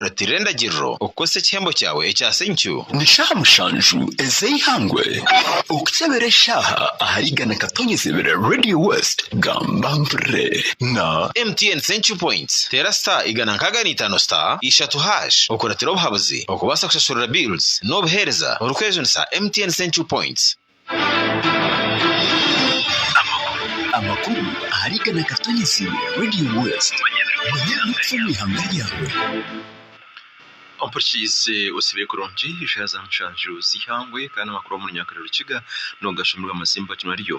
Reeterera endagiriro okukozesa ekihembo kyawe ekya senkyu. Ni shaaha mushanju ez'eihangwe okukyebera eshaaha ahari igana katonyeze bira Radio West gamba mpurire na. MTN Senkyu Points Teera star igana nkaaga na itaano star ishatu hash okuratira obuhabuzi okubaasa kushashurira bills n'obuheereza orikwejunisha MTN Senkyu Points. Amakuru ahari Igana Katonyezi Radio West. Manya ebirikufa omu ihanga ryawe. Ompurikiize osibire kurungi eshaaha za mushanju z'eihangwe kandi amakuru omu runyaka na rukiga noogashuumirwa amazimba ginu ariyo.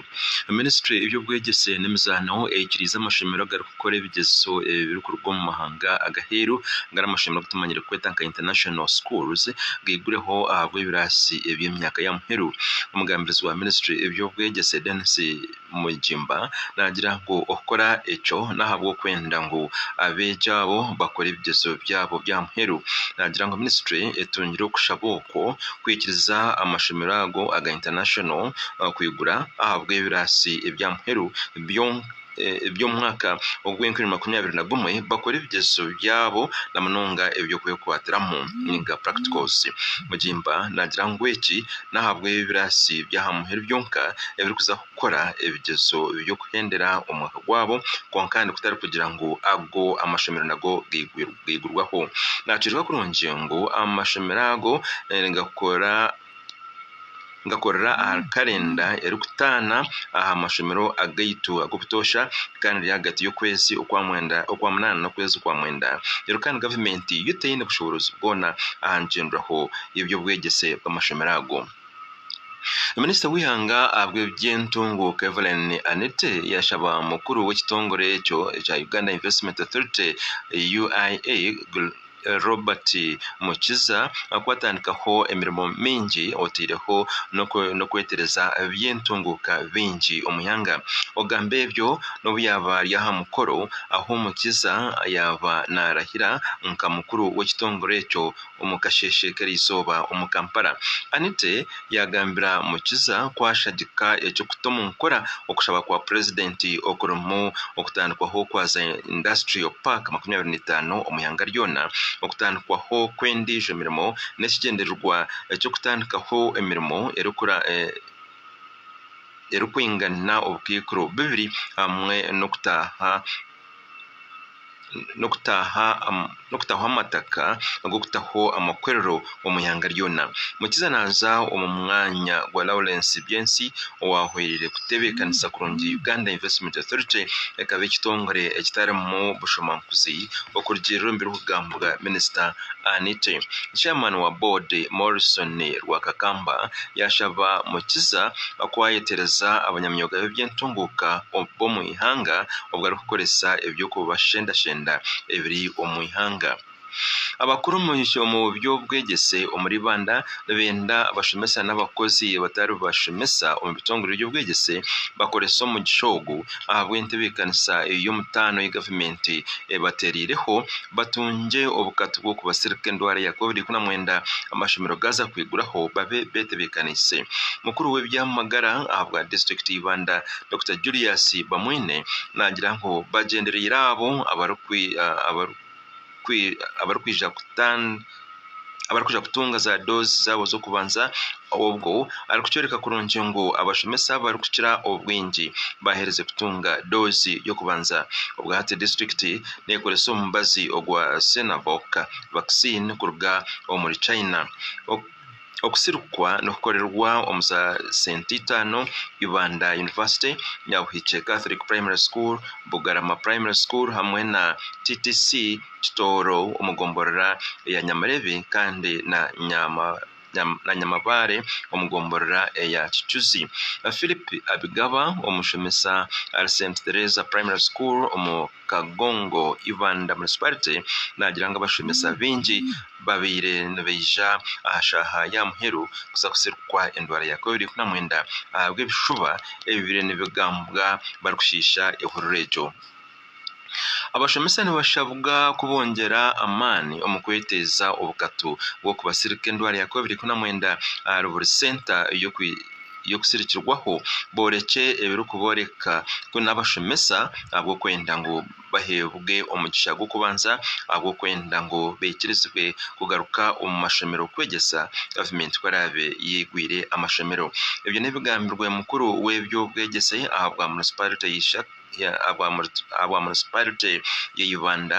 Minisitule y'eby'obwegyese n'emizaano eikiriize amashomero agari kukora ebigyezeso ebi birikuruga omu mahanga ag'aheeru nari amashomero agu tumanyire kweta nka International Schools gaigureho ahabw'ebiraasi eby'emyaka ya muheru. Omugambirizi wa minisitule y'eby'obwegyese Denis Mugimba naagira ngu okukora ekyo n'ahabw'okwenda ngu abeegi abo bakore ebigyezeso byabo bya muheru. Naagira ngu minisitule etungire okushaba okwo kwikiriza amashomero ago aga International kwigura ahabw'ebiraasi ebya muheru byonka. by'omwaka ogw'enkumi makumi abiri na gumwe bakora ebigyezeso byabo na munonga eby'okwekwatiramu ninga practicals. Mugimba naagira ngu eki n'ahabw'ebiraasi by'aha muheru byonka ebirikuza kukora ebigyezeso by'okuhendera omwaka gwabo kwonka kandi kutari kugira ngu ago amashomero nago gaigurwaho. Naakyoreka kurungi ngu amashomero ago nigakora. ngakorera ahari karenda erikutaana aha mashomero agaitu ag'obutoosha kandi riri ahagati y'okwezi okwa mwenda okwa munaana n'okwezi kwa mwenda reero kandi gavumenti yo teine bushoboorozi bwona aha nkyendwaho y'eby'obwegyese bw'amashomero ago. Minisita w'eihanga ahabw'ebyentunguuka Evelyn Anite yashaba mukuru w'ekitongore ekyo ekya Uganda Investment Authority, UIA, Robert Mukiza ku atandikaho emirimo mingi otaireho n'okwetereza by'entunguuka bingi omu ihanga. Ogamba ebyo n'obu yaaba ari aha mukoro ahu Mukiza yaaba naarahira nka mukuru w'ekitongore ekyo omu kasheeshe k'erizooba omu Kampala. Anite Yaagambira Mukiza ku ashagika eky'okuta omu nkora okushaba kwa Purezidenti okurimu okutandikwaho kwa za Industrial Park makumi abiri na itaano omu ihanga ryona, okutandikwaho kw'endiijo mirimo n'ekigyendererwa ky'okutandikaho emirimo erikwingana obukaikuru bubiri hamwe n'okutaaha. n'okutaho amataka ag'okutaho amakorero omu ihanga ryona. Mukiza naaza omu mwanya gwa Lawrence Byensi owaahweraire kutebeekanisa kurungi Uganda Investment Authority ekaba ekitongore ekitarimu bushomaankuzi okurugiirira omu birikugambwa minisita Anite. Chairman wa boodi Morrison Rwakakamba yaashaba Mukiza ku ayetereza abanyamyooga b'ebyentunguuka b'omu eihanga obu arikukoresa eby'okubashendashenda ebiri omu ihanga. Abakuru omu by'obwegyese omuri Rwanda nibenda abashomesa n'abakozi abatari bashomesa omu bitongore by'obwegyese bakorese omugisha ogu ahabw'entebeekanisa ey'omutaano ei gavumenti ebateereireho batungye obukatu bw'okubasirika endwara ya covid ikumi na mwenda amashomero gaaza kwiguraho babe beetebeekaniise. Mukuru w'eby'amagara ahabwa disiturikiti y'eibanda Dokita Julius Bamwine naagira ngu bagyendereire abo abarikwija kutunga za doozi zaabo z'okubanza obwo arikukyoreka kurungi ngu abashomesa abarikukira obwingi baaheerize kutunga doozi y'okubanza. Obwahati disiturikiti neekoresa omubazi ogwa Sinovac vaccine kuruga omuri China. Okusirikwa nikukorerwa omu za Senti Itaano, Ibanda University, Nyabuhikye Catholic Primary School, Bugarama Primary School hamwe na TTC Kitooro omu gomborora eya Nyamirebe kandi na Nyamabaare omu gomborora eya Kicuzi. Phillip Abigaba, omushomesa ahari Senti Tereza Primary School omu. Kagongo Ibanda Municipality naagira ngu abashomesa baingi babaire nibaija aha shaaha ya muheru kuza kusirikwa endwara ya covid ikumi na mwenda ahabw'ebishuba ebibaire nibigambwa barikushiisha ehururu egyo. Abashomesa nibashabwa kubongyera amaani omu kweteeza obukatu bw'okubasirika endwara ya covid ikumi na mwenda ahari buri senta y'okusirikirwaho boorekye ebirikubooreka ku n'abashomesa ahabw'okwenda ngu baheebwe omugisha gw'okubanza ahabw'okwenda ngu baikirizibwe kugaruka omu mashomero kwegyesa gavumenti ku eraabe yaigwire amashomero. Ebyo n'ebigambirwe mukuru w'eby'obwegyese aha bwa munisipaarite ya Ibanda,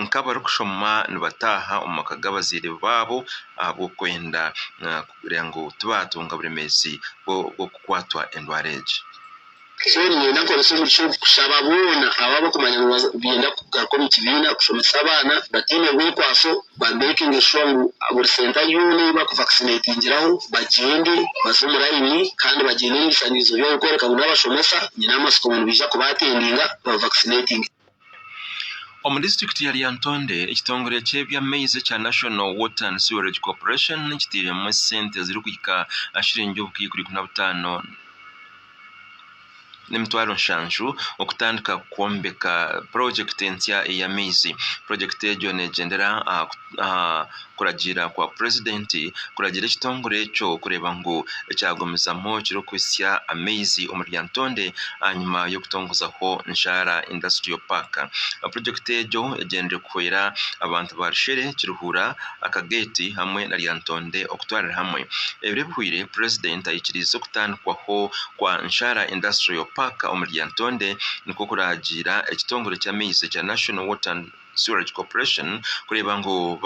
nk'abarikushoma nibataaha omu maka g'abazaire baabo ahabw'okwenda kugira ngu tibaatunga buremeezi bw'okukwatwa endwara egi. Siteeni nayo nakoresa omugisha ogu kushaba boona abo abarikumanya ngu nibenda kugaruka omu kibiina kushomesa abaana bataine rwekwaso, baamekinga eshuwa ngu buri senta yoona ei baakuvakisinetingiraho bagyende baze omu layini kandi bagyende n'ebishangizo byabo kworeka ngu n'abashomesa nyine amatsiko ngu nibaija kubaatendinga babavakisinetinge. Omu disiturikiti ya Lyantonde, ekitongore ky'eby'amaizi ekya National Water and Sewerage Corporation kitairemu esente ezirikuhika aha shiringi obukaikuri ikumi na butaano n'emitwaro nshanju okutandika kwombeka purojekiti entsya ey'amaizi. Purojekiti egyo neegyendera aha kuragiira kwa purezidenti kuragira ekitongore ekyo kureeba ngu ekyagumizamu kirikuhitsya amaizi omu Lyantonde ahanyima y'okutongozaho Nshaara Industrial Park. Purojekiti egyo egyendeire kuhwera abantu ba Rushere, Kiruhura, Akagate hamwe na Lyantonde okutwarira hamwe. Ebiro ebihweire purezidenti aikiriize okutandikwaho kwa Nshaara Industrial Park omu Lyantonde nikwo kuragiira ekitongore ky'amaizi ekya National Water and. Sewerage Corporation kureeba ngu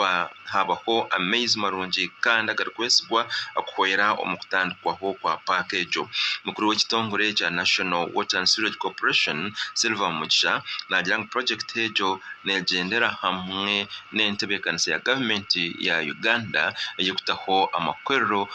haabaho amaizi marungi kandi agarikwesigwa kuhwera omu kutandikwaho kwa paaka egyo. Mukuru w'ekitongore ekya National Water and Sewerage Corporation, Silver Mugisha naagira ngu purojekiti egyo neegyendera hamwe n'entebeekanisa ya gavumenti ya Uganda ey'okutaho amakorero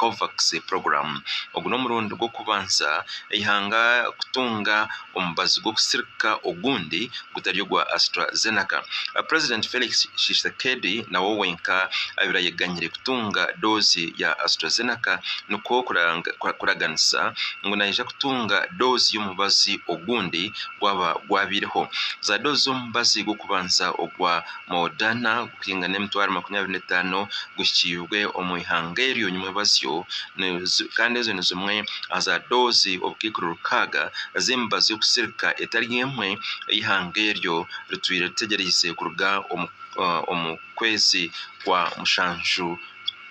Covax Program. Ogu n'omurundi gw'okubanza eihanga kutunga omubazi gw'okusirika ogundi gutari ogwa AstraZeneca. Purezidenti Felix Tshisekedi nawe owenka abaire ayeganyire kutunga doozi ya AstraZeneca nikwo kuraganisa ngu naija kutunga doozi y'omubazi ogundi gwaba gwabaireho. Zaadoozi z'omubazi gw'okubanza ogwa Moodhana gukuhinga n'emitwaro makumi abiri n'etaano guhikiirwe omu ihanga eryo nyimwebazyo kandi ezo ni zimwe aha za doozi obukaikuru rukaaga z'emibazi y'okusirika etari emwe ei ihanga eryo ritwire ritegyereize kuruga omu kwezi kwa mushanju.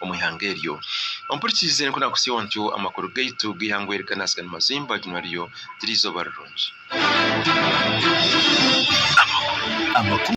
omu ihanga eryo. Ompurikiize nikwo naakutsiiwa ntyo amakuru gaitu g'eihangwe eri kanatsika ni mazimba ryo naryo tiri eizooba rirungi. Amakuru.